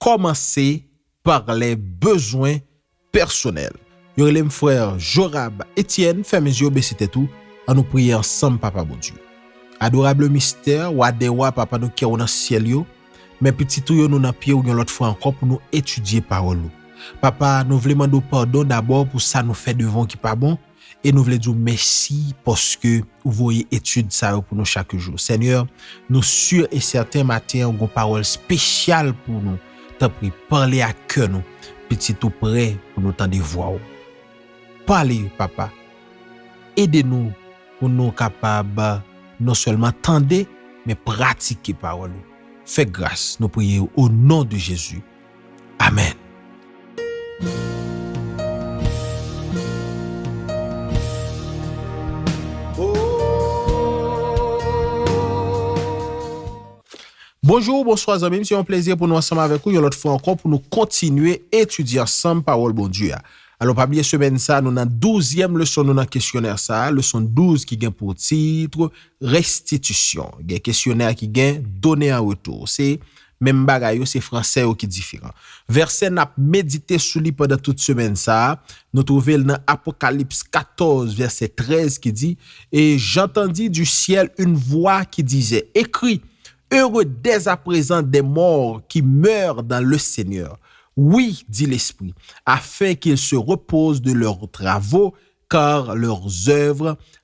Kòmanse par lè bezwen pèsonèl. Yo rele m frè Jorab Etyèn, fèmen zye w bese tèt ou, an nou priye ansanm Papa Bondye. Adorab le mistè, Wa dè wa, Papa nou kè ou nan syèl yo, men pitit ou yo nou nan pye ou yon lòt fwa ankò pou nou etidye pawòl ou. Papa, nou vle mande w padon dabò pou sa nou fè devan w ki pa bon, E nou vle di w mèsi paske ou voye etid sa yo pou nou chak jou. Senyè, nou si e sèten maten an gon pawòl spesyal pou nou. Tanpri, pale ak kè nou. Pitit ou prè pou nou tande vwa w. Pale, Papa. Ede nou pou nou kapab non sèlman tande, men pratike pawòl ou. Fè gras, nou priye o non de Jezi. Amen. Bonjou ou bonswa zanmim se yon plezi pou nou ansanm avèk ou yon lòt fwa ankò pou nou kontinye etidye ansanm pawòl Bondye a alò pa bliye semèn sa nou nan douzyèm leson nou nan kesyonè sa leson 12 ki gen pou titre restitisyon gen kesyonè ki gen done an retou se Menm bagay yo, se franse yo ki diferan. Vèsè n ap medite sou li pandan tout semèn sa a, nou twouve l nan Apokalips 14, vèsè 13 ki di, E j'entendis du ciel une voix qui disait, Écris, Heureux dès à présent des morts qui meurent dans le Seigneur, oui, dit l'Esprit, afin qu'ils se reposent de leurs travaux, car leurs œuvres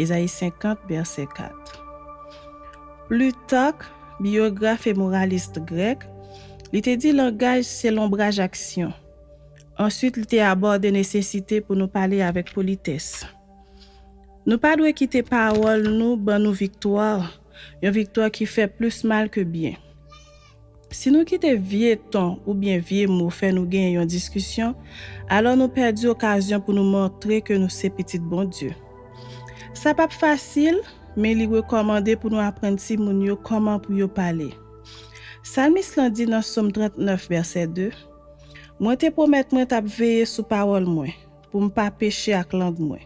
Ezayi 50, vèsè 4 Plitark, biyograf e moralist grèk, li te di langaj se lonbraj aksyon. Ansuit li te abòde nesesite pou nou pale avèk politès. Nou pa dwe kite pawòl nou ban nou viktwa, yon viktwa ki fè plis mal ke byen. Si nou kite vye ton oubyen vye mo fè nou genyen yon diskisyon, alò nou pèdi okazyon pou nou montre ke nou se pitit Bondye. Sa pap fasil, men li rekòmande pou nou aprann timoun yo kòman pou yo pale. Salmis lan di nan Som 39, vèsè 2, Mwen te pwomèt mwen t ap veye sou pawòl mwen, Pou m pa peche ak lang mwen.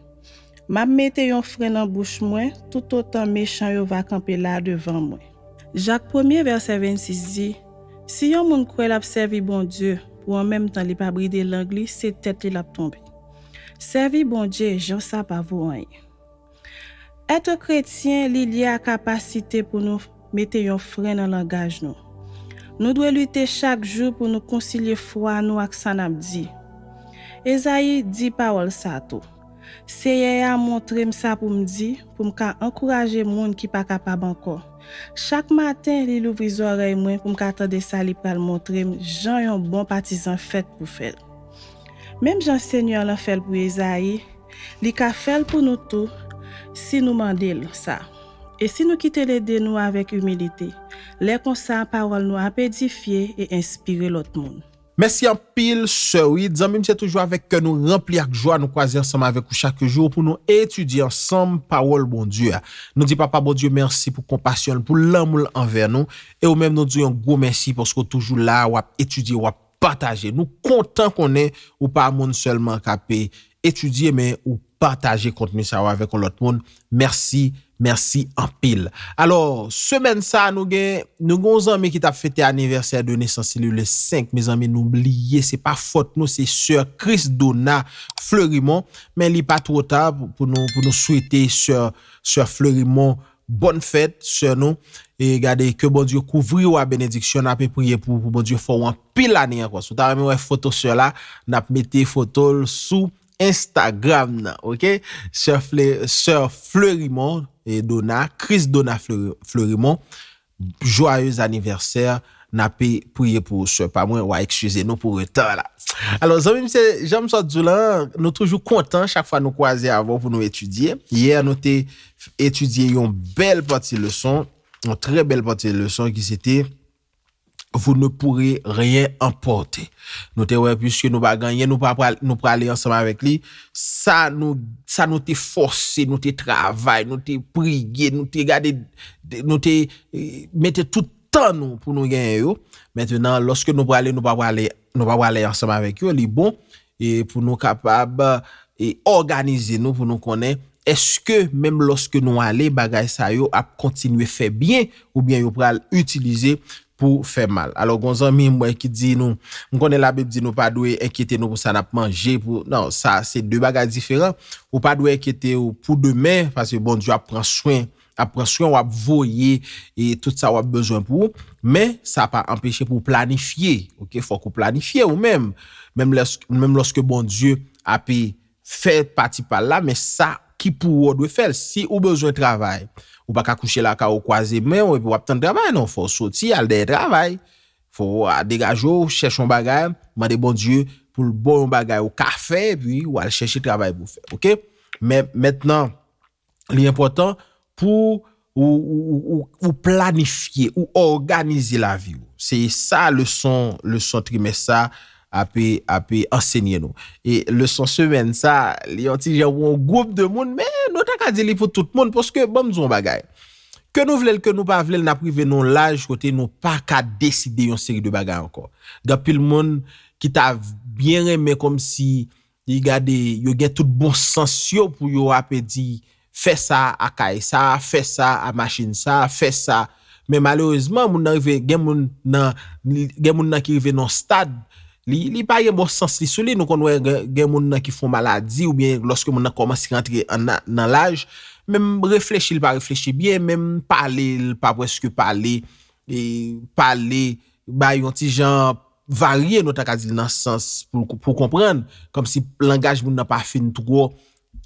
M ap mete yon fren nan bouch mwen, toutotan mechan yo va kanpe la devan mwen. Jak premye vèsè 26 di, Si yon moun kwè l ap sèvi Bondye, pou an menm tan li pa bride lang li, se tèt li l ap tonbe. Sèvi Bondye jan sa pa vo anyen. Ète kretyen li lye a kapasite pou nou mete yon fren nan langaj nou. Nou dwe lite chak jou pou nou konsilye fwa nou ak sa n ap di. Ezayi di pawòl sa a tou, Seyè a montre m sa pou m di pou m ka ankouraje moun ki pa kapab ankò. Chak maten li louvri zòrèy mwen pou m ka tande sa li pral montre m jan yon bon patizan fèt pou fè l. Menm jan Senyè lan fè l pou Ezayi, li ka fè l pou nou tou si nou mande l sa e si nou kite l ede nou avèk imilite. Lè konsa, pawòl nou ap edifye e enspire lòt moun. Mèsi anpil sè Wid. Zanmi m, se toujou avèk kè nou ranpli ak jwa nou kwaze ansanm avèk ou chak jou pou nou etidye ansanm pawòl Bondye a. Nou di Papa Bondye mèsi pou konpasyon l, pou lanmou l anvè nou e ou menm nou di w yon gwo mèsi paske w toujou la a, w ap etidye, w ap. Pataje. Nou kontan konnen ou pa moun sèlman k ape etidye men ou pataje kontni sa yo avèk yon lòt moun. Mèsi, mèsi anpil. Alò, semèn sa a nou gen, nou gen yon zanmi ki t ap fete anivèsè de nesans li le 5, mezanmi nou bliye, se pa fòt nou, se sè Christdona Fleurimond, men li pa two ta pou nou swete sè Fleurimond Bonne fête soeur nou e gade ke Bondye kouvri ou a benediksyon nape priye pou ou pou Bondye fè ou anpil ane ankò si ou ta renmen wè foto soeur la nap mete fotol sou Instagram nan ok soeur Fleurimond Dona Chrisdona Fleurimond Joyeux anniversaire nape priye pou ou soeur pa mwen wa excuze nou pou retar la alors zanmim se janm sot diw lan nou toujou kontan chak fwa nou kwaze avèw pou nou etidye hier nou te etidye yon bèl pati leson yon trè bèl pati leson ki se te vous ne pourrez rien emporter nou te wè puiske nou pa gen anyen nou pa pral nou prale ansanm avèk li Sa nou, sa nou te fòse, nou te travay, nou te priye, nou te gade, nou te mete tout tan nou pou nou genyen yo, mentenan, lòske nou prale, nou pa prale, nou pa prale ansanm avèk yo, li bon pou nou kapab òganize nou pou nou konnen èske menm lòske nou ale bagay sa yo ap kontinye fè byen oubyen yo pral itilize pou fè mal alò gon zanmi mwen ki di nou m konnen labib di nou pa dwe enkyete nou pou sa nap manje pou nan sa se de bagay diferan ou pa dwe enkyetew pou demen paske Bondye ap pran swen ap pran swenw ap voye e tout sa wap bezwen pou ou men sa pa anpeche pou planifye ok fòk ou planifye ou menm menm lòske Bondye ape fè pati pal la men sa ki pou ou ou dwe fèl si ou bezwen travay ou pa ka kouche lakay ou kwaze menw epi wap tann travay non fòw soti al dèyè travay fòw degajew chèch yon bagay mande Bondye poul baw yon bagay ou ka fè epi wal chèche travay pou fè ok men mèt nan. li enpòtan pou ou planifye, ou òganize lavi ou. Se sa leson trimès sa ape ansenye nou. E leson semèn sa, li yon ti jan pou yon gwoup de moun, men nou ta ka di li pou tout moun, paske ban m di w yon bagay, ke nou vle l, ke nou pa vle l, n ap rive nan yon laj kote nou pa ka deside yon seri de bagay ankò. Gen anpil moun ki ta byen renmen kòmsi Li gade yo gen tout bon sans yo pou yo ape di fè sa a kay sa, fè sa a machin sa, fè sa. Men malerezman moun nan rive gen moun nan gen moun nan ki rive nan yon stad li li pa gen bon sans li sou li. Nou konn wè gen moun nan ki fè yon maladi oubyen lòske moun nan kòmanse rantre nan laj menm reflechi li pa reflechi byen, menm pale li pa prèske pale, pale bay yon ti jan varye nou ta ka di l nan sans pou konprann kòmsi langaj moun nan pa fin twò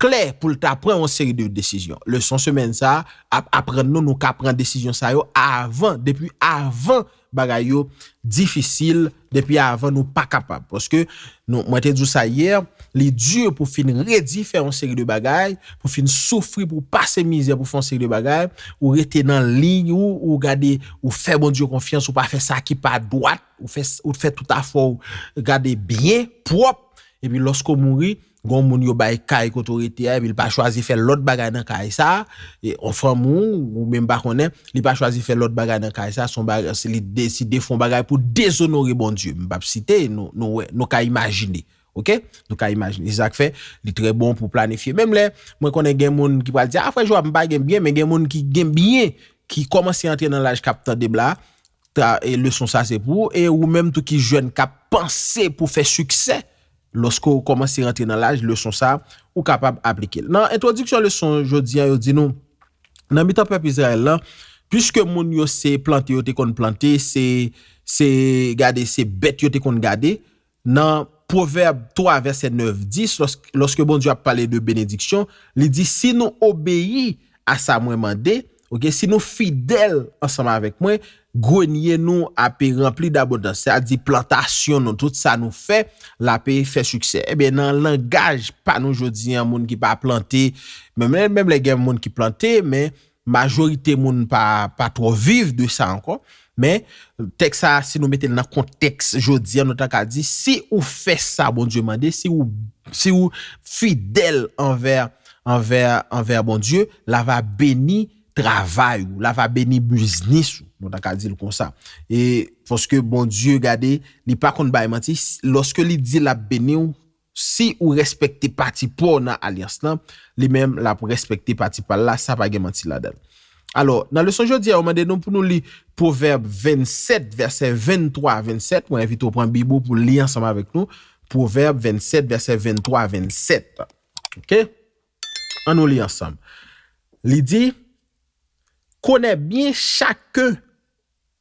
klè pou l ta pran yon seri de desizyon. Leson semèn sa a ap aprann nou nou ka pran desizyon sa yo avan depi avan bagay yo difisil depi avan nou pa kapab paske nou mwen te di w sa yè li di pou fin redi fè yon seri de bagay pou fin soufri pou pase mizè pou fè yon seri de bagay ou rete nan liy ou ou gade ou fè Bondye konfyans, ou pa fè sa ki pa dwat, ou fè ou fè tout afè w gade byen, pwòp, epi lòske w mouri, gon moun yo bay kay kote w rete a epi l pa chwazi fè lòt bagay nan kay sa, yon fanmi w ou menm pa konnen, li pa chwazi fè lòt bagay nan kay sa, son bagay se li deside fon bagay pou dezonore Bondye, m pap site, nou wè, nou ka imajine. Ok nou ka imajine se sak fè li trè bon pou planifye menm lè mwen konnen gen moun ki pral di a frè Joab m pa gen byen men gen moun ki gen byen ki kòmanse antre nan laj kap tandem la e leson sa se pou e ou menm tou ki jèn kap panse pou fè siksè lòske ou kòmanse rantre nan laj leson sa ou kapab aplike l nan entwodiksyon leson jodi an yo di nou nan mitan pèp Izrayèl lan piske moun yo se plante yo te konn plante se se gade se bèt yo te konn gade Nan Pwovèb 3 vèsè 9, 10, lòske Bondye ap pale de benediksyon, li di, Si nou obeyi a sa mwen mande, ok, si nou fidèl ansanm avèk mwen, grenye nou ape ranpli dabondans, sa di plantasyon nou, tout sa nou fè, l ape fè siksè. Ebyen, nan langaj pa nou jodi an, moun ki pa plante, menm lè gen moun ki plante, men, Majorite moun pa pa twò viv de sa ankò. Men, tèks sa a, si nou mete l nan kontèks jodi a, nou ta ka di, si ou fè sa Bondye mande, si ou si ou fidèl anvè anvè anvè Bondye, l a va beni travay ou, l a va beni biznis ou, nou ta ka di l konsa. E paske Bondye, gade, li pa konn bay manti, lòske li di l ap beni ou, Si ou respekte pati paw nan alyans lan, li menm lap respekte pati pal la, sa pa gen manti ladann. Alò, nan leson jodi a yo mande nou pou nou li Pwovèb 27 vèsè 23 a 27, mwen envite w pran bib ou pou li ansanm avèk nou, Pwovèb 27 vèsè 23 a 27. Ok, an nou li ansanm. Li di, Konè byen chak.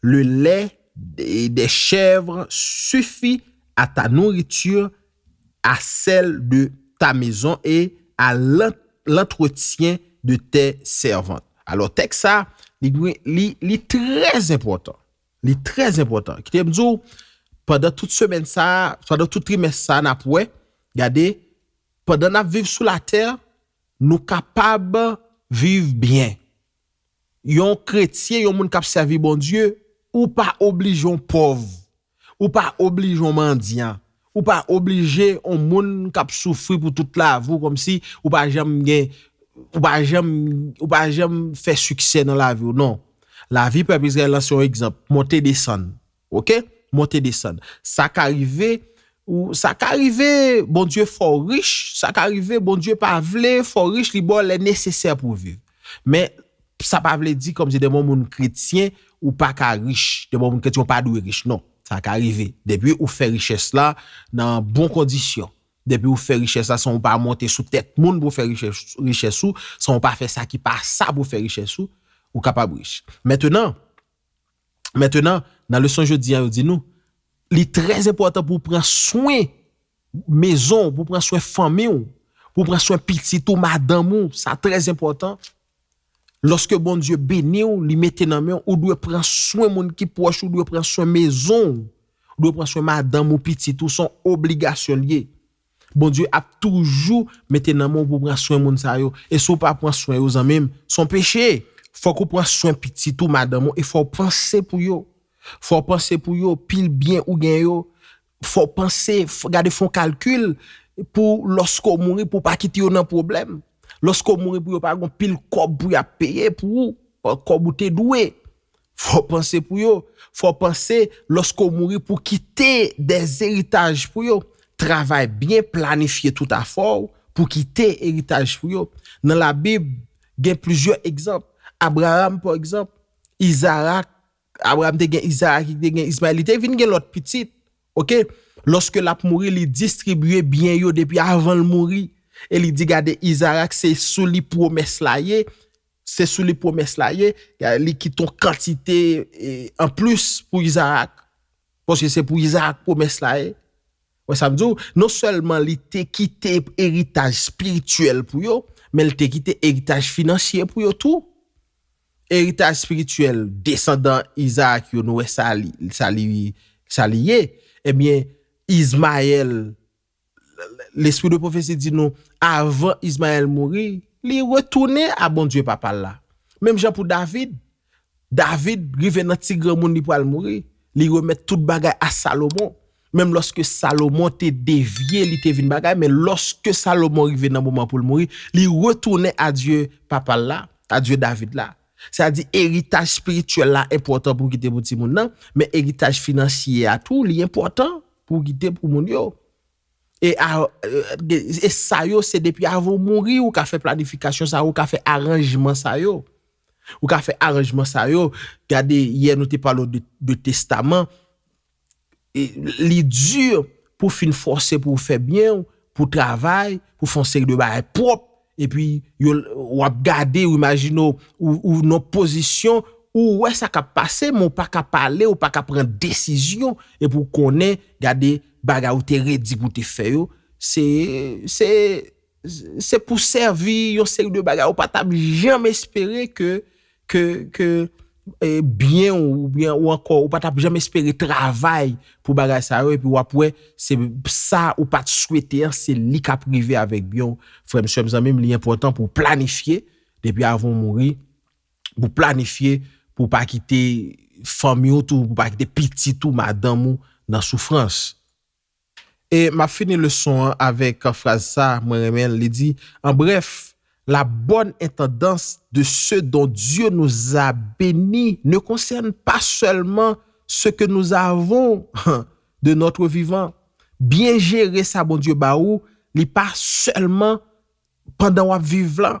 Le lait des chèvres suffit à ta nourriture, à celle de ta maison et à l'entretien de tes servantes. Alò tèks sa, li trè enpòtan. Li trè enpòtan. Kite m di w, pandan tout semèn sa, pandan tout trimès sa n ap wè, gade, pandan n ap viv sou latè, nou kapab viv byen. yon kretyen, yon moun k ap sèvi Bondye, ou pa oblije yon pòv, ou pa oblije yon mandyan, ou pa oblije yon moun k ap soufri pou tout lavi w kòmsi ou pa janm gen, ou pa janm, ou pa janm fè siksè nan lavi w. Non. Lavi pèp Izrayèl la se yon egzanp, monte desann. Ok monte desann sa ka rive ou sa ka rive Bondye fè w rich sa ka rive Bondye pa vle fè w rich li ba w lè nesesè pou w viv men sa pa vle di kòmsi depi w moun kretyen ou pa ka rich depi w moun kretyen ou pa dwe rich non sa ka rive depi ou fè richès la nan bon kondisyon depi ou fè richès la san ou pa monte sou tèt moun pou w fè richès ou san ou pa fè sa ki pa sa pou w fè richès ou ou kapab rich mètenan Mentenan, nan leson jodi an yo di nou, li trè enpòtan pou w pran swen mezon w, pou w pran swen fanmi w, pou w pran swen pitit ou, madanm ou, sa trè enpòtan. Lòske Bondye beni w, li mete nan men w, ou dwe pran swen moun ki pwòch ou, ou dwe pran swen mezon w, ou dwe pran swen madanm ou, pitit ou, son obligasyon l ye. Bondye ap toujou mete nan men w pou w pran swen moun sa yo e si w pa pran swen yo zanmi m se yon peche. Fòk ou pran swen pitit ou, madanm ou e fò w panse pou yo. Fò w panse pou yo, pil byen ou gen yo fò w panse, gade fè yon kalkil pou lòske w mouri pou w pa kite yo nan pwoblèm. Lòske w mouri pou yo pa gon pil kòb pou y ap peye pou ou, kòb ou te dwe. Fò w panse pou yo. Fò w panse lòske w mouri pou w kite de eritaj pou yo. Travay byen planifye tout afè w pou w kite eritaj pou yo. Nan Labib, gen plizyè egzanp. Abraram, pa egzanp, Izarak, Abraram te gen Izarak, li te gen Izmayèl, li te vin gen lòt pitit. Oke, lòske l ap mouri, li distribye byen yo depi avan l mouri e li di, Gade, Izarak, se sou li pwomès la ye, Se sou li pwomès la ye, li kite yon kantite an plis pou Izarak, paske se pou Izarak pwomès la ye. Ou wè sa m di w? Non sèlman li te kite eritaj espirityèl pou yo, men li te kite eritaj finansye pou yo tou. Eritaj espirityèl desandan Izarak yo, nou wè sa li ye. Ebyen, Izmayèl Lespri de pwofesi di nou, avan Izmayèl mouri, li retounen a Bondye papa l la. Menm jan pou David, David rive nan ti granmoun li pral mouri, li remèt tout bagay a Salomon, menm lòske Salomon te devye li te vin bagay, men lòske Salomon rive nan moman pou l mouri, li retounen a Dye papa l la, a Dye David la. Sa di eritaj spirityèl la enpòtan pou kite pou timoun nan, men eritaj finansye a tou li enpòtan pou kite pou moun yo. E e sa yo se depi avan ou mouri ou ka fè planifikasyon sa yo, ou ka fè aranjman sa yo. Ou ka fè aranjman sa yo, gade yè nou te pale w de testaman. li dur pou fin fòse pou w fè byen w, pou w travay, pou w fè yon seri de bagay pwòp, epi yo w ap gade, w imajine w, ou nan yon pozisyon, ou wè sa k ap pase men w pa ka pale, ou pa ka pran desizyon, epi w konnen gade bagay ou te redi pou w te fè yo, se, se. Se pou sèvi yon seri de bagay ou pa tap janm espere ke ke byen w oubyen ou ankò ou pa tap janm espere travay pou bagay sa yo epi wap wè se sa ou pat swete an se li kap rive avèk byen w frè m sè m zanmi m li enpòtan pou w planifye depi avan w mouri pou w planifye pou w pa kite fanmi w tou pou w pa kite pitit ou madanm ou nan soufrans. E m ap fini leson an avèk fraz sa, mwen renmen l, li di, En bref, la bonne intendance de ceux dont Dieu nous a bénis ne concerne pas seulement ce que nous avons de notre vivant. Byen jere sa Bondye ba ou, li pa sèlman pandan w ap viv lan.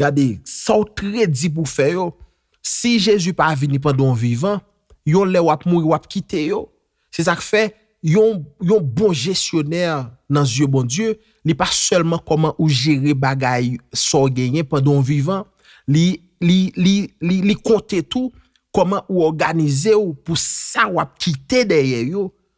Gade sa w t redi pou w fè yo. Si Jezi pa vini pandan w vivan, yon lè w ap mouri w ap kite yo. Se sa k fè, yon yon bon jesyonè nan zye Bondye, li pa sèlman kòman ou jere bagay sa w genyen pandan w vivan, li li li li li konte tou kòman ou òganize w pou sa w ap kite dèyè yo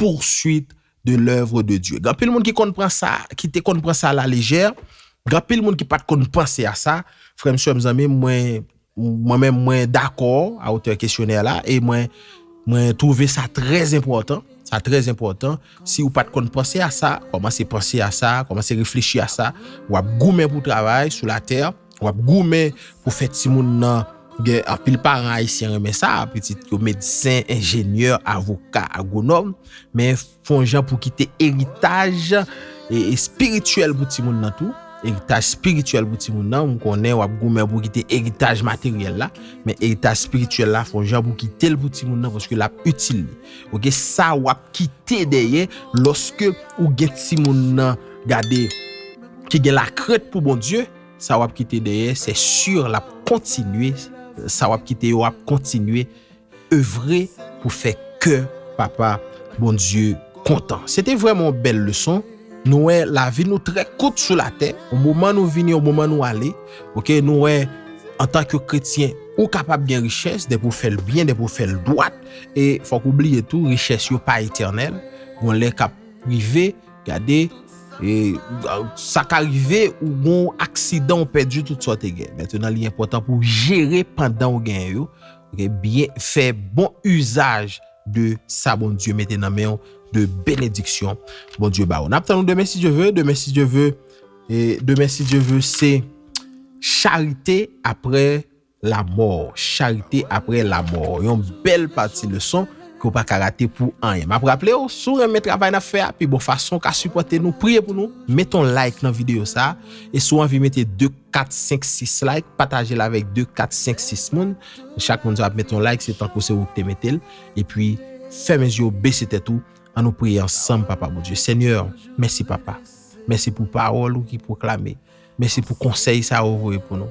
poursuite de l'oeuvre de Dieu. Gen anpil moun ki konn pran sa, ki te konn pran sa a la légère, gen anpil moun ki pa t konn panse a sa. Frè m, sè m, zanmi m, mwen, mwen menm mwen dakò a otè kesyonè la e mwen, mwen twouve sa trè enpòtan, sa trè enpòtan. Si ou pa t konn panse a sa, kòmanse panse a sa, kòmanse reflechi a sa. W ap goumen pou travay sou latè. Wap goumen pou fè timoun nan gen anpil paran ayisyen renmen sa, pitit yo medsen, enjenyè, avoka, agwonòm, men fon jan pou kite eritaj espirityèl pou timoun nan tou, eritaj espirityèl pou timoun nan, m konnen wap goumen pou kite eritaj materyèl la, men eritaj espirityèl la fon jan pou kite l pou timoun nan paske lap itil li. Ok, sa wap kite dèyè lòske ou gen timoun nan gade ki gen lakrent pou Bondye, sa wap kite dèyè se sur lap kontinye sa wap kite yo ap kontinye evre pou fè kè papa Bondye kontan. Se te vreman yon bèl leson. Nou wè lavi nou trè kout sou latè. Yon moman nou vini, yon moman nou ale. Ok, nou wè antan ke kretyen ou kapab gen richès depi ou fèl byen, depi ou fèl dwat. E fòk ou bliye tou richès yo pa etènèl. Gon lè kap rive. Gade, e, sa ka rive ou gon aksidan ou pèdi tout sa ou te gen. Mètenan li enpòtan pou jere pandan ou gen yo, ok, byen fè bon izaj de sa Bondye mete nan men ou de benediksyon Bondye ba ou. N ap tann ou demen si Dye ve, demen si Dye ve, e demen si Dye ve se charite apre. Lamò, charite aprè lamò, yon bèl pati leson ke w pa ka rate pou anyen. M ap raple w, si w renmen travay n ap fè a, pi bon fason w ka sipòte nou, priye pou nou, mete yon like nan videyo sa a, e si w anvi mete 2, 4, 5, 6 like, pataje l avèk 2, 4, 5, 6 moun, chak moun sa ap mete yon like, se tankou se ou ki te mete l, epi fèmen zye w, bese tèt ou, an nou priye ansanm Papa Bondye. Senyè, mèsi Papa, mèsi pou pawòl ou ki pwoklame. Mèsi pou konsèy sa ou voye pou nou.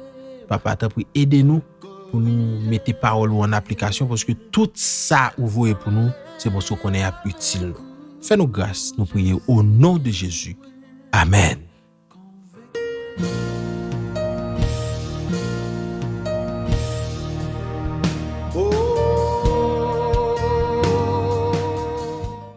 Papa tanpri ede nou pou nou mete pawòl ou an aplikasyon paske tout sa ou voye pou nou se paske ou konnen yap itil nou. Fè nou gras nou priye o non de Jezi. Amèn.